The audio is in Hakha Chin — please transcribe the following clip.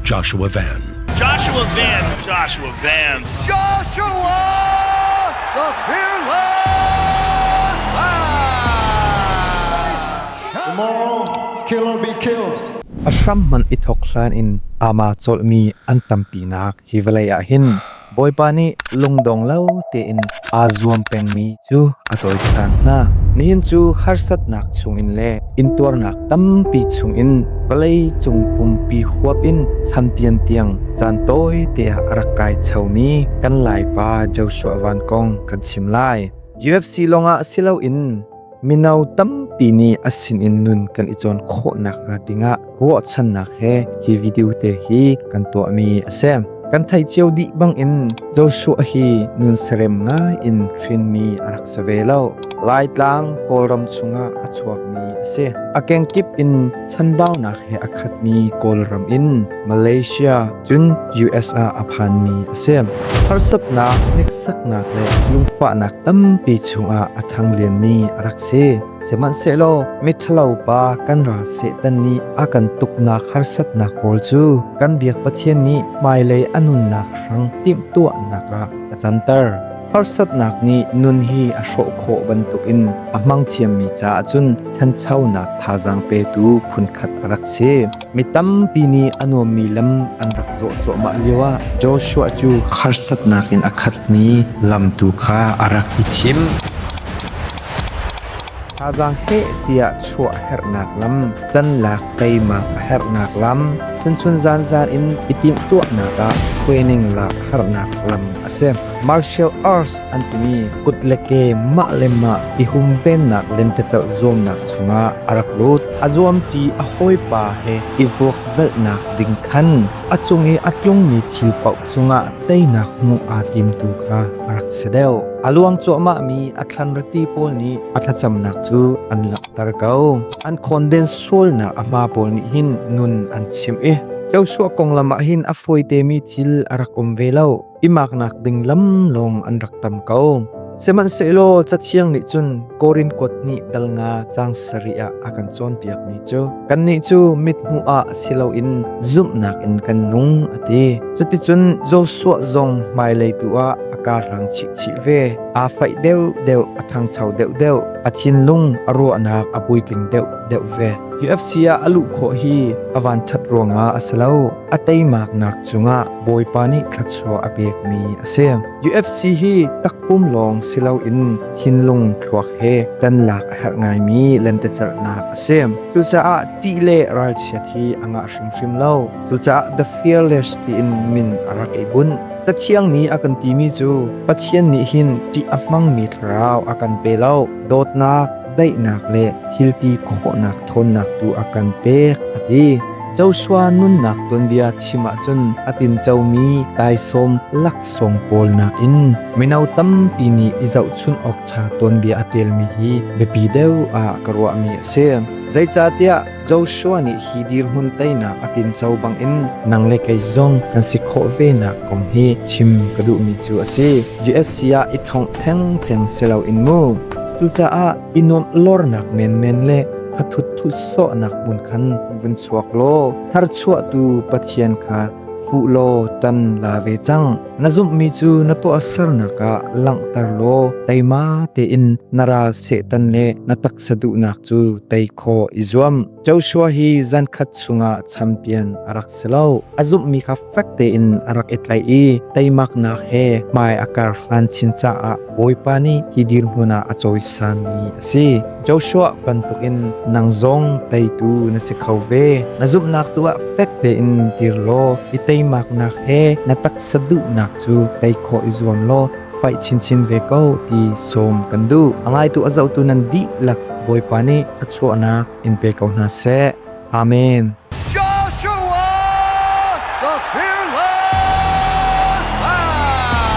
Joshua Van. Joshua Van. Joshua Van. Joshua the fearless man. Tomorrow kill or be killed. A hram man i thok hlan in ama colmi an tampinak hi vawlei ah hin Bawipa nih lungdong lo tein aa zuam pengmi cu a tawisang hna. Nihin cu harsatnak chungin le intuarnak tampi chungin vawlei cung pumpi huap in champion tiang caan tawite ah a rak kai chomi kan Laipa Joshua Van kong kan chim lai. UFC lawngah si loin Mino tampi nih a sinin nun kan i cawn khawh nakhnga dingah ruahchannak he hi video te hi kan tuahmi a si. Kan theih cio dih bangin Joshua hi nun serem ngai in hrinmi a rak se ve lo. Laitlang Kawlram chungah a chuakmi a si. A kengkip in chanbaunak he a khatmi Kawlram in Malaysia cun US ah a phanmi a si. Harsatnak, hneksaknak le lungfahnak tampi chungah a thanglianmi a rak si. Sihmanhsehlaw miṭhalo pa kan ral Satan nih a kan tuknak harsatnak pawl cu kan biak Pathian nih hmailei a nunnak hrang timhtuahnak ah a canter. Harsatnak nih nun hi a hrawh khawh bantukin a hmangthiammi caah cun ṭhanchonak thazaang petu phunkhat a rak si. Mi tampi nih a nuammi lam an rak zawh cuahmah lioah Joshua cu harsatnak in a khatmi lam tu kha a rak i thim. Thazaang heh tiah chuah herhnak lam, tanlak teimak a herhnak lam, phunchun zanzan in i timhtuahnak ah hruaining lak harnak lam a si. Martial arts an timi kut le ke mah le mah i humvennak lentecelh zuamnak chungah a rak lut. A zuamṭi a hawipa he i vuakvelhnak ding khan a cung i a tlungmi thil paoh cungah teinak hmuh aa timtu kha a rak si deuh. A luang cuahmahmi a thlanrati pawl nih a thlacamnak cu an langhter ko. An khawnden sualnak a hma pawl nih hin nun an chimh i Joshua konglam ah hin a fawitemi thil a rak um ve lo. i maknak ding lam lawng an rak tam ko. Sihmanhsehlaw cathiang nih cun Korin kuat nih dal nga cang sarih ah a kan cawnpiakmi cu kannih cu mithmuh ah si loin zumhnak in kan nung a ti. Cuticun Joshua zong hmailei tu ah a kaa hrang chih chih ve. Aa faih deuh deuh a thangcho deuh deuh. A thinlung a ruahnak a puitling deuh deuh ve. UFC ah a luh khawh hi a van ṭhat ruangah a si lo. A teimaknak cungah Bawipa nih thluachuah a pekmi a si. UFC hi takpum lawng si loin thinlung thluak he kan lak a herh ngaimi lentecelhnak a si. Cucaah ṭih le ralchiat hi a ngah hrimhrim lo. Cucaah the fearless tiin min a rak i bunh. Cathiang nih a kan timi cu Pathian nih hin ṭih a hmangmi thlarau a kan pe lo. Dawtnak, daihnak le thilti khawhnak ṭhawnnak tu a kan pek a ti. Joshua nunnak tuanbia chim ahcun a tincomi taisawm laksawng pawl nakin mino tampi nih i zohchunh awk ṭha tuanbia a ṭialmi hi biapi deuh ah ka ruahmi a si. Zeicahtiah Joshua nih hi dirhmun teinak a tinco bangin nang le kei zong kan si khawh venak kong hi chim ka duhmi cu a si. UFC ah i thongh thengtheng si loin mu. Cucaah i nuamh lornak menmen le thathut thusawhnak hmun khan vun chuak law tharchuahtu Pathian kha fuh law tan la ve cang. Na zumhmi cu na tuahsernak ah langhter law teima tein na ral Satan le na taksa duhnak cu tei khawh i zuam. Joshua hi zan khat chungah champion a rak si lo. A zumhmi kha fek tein a rak i tlaih i teimaknak he hmai a kar hlan chin caah Bawipa nih hi dirhmun ah a cawisami a si. Joshua bantukin nang zong teitu na si kho ve. Na zumhnak tuah fek tein dir law i teimaknak he na taksa duhnak cu tei khawh i zuam law Faih chinchin ve ko ti sawm kan duh. A ngaitu a zohtu nan dihlak Bawipa nih a chuahnak in pe ko hna seh. Amen. Joshua the Fearless Lion!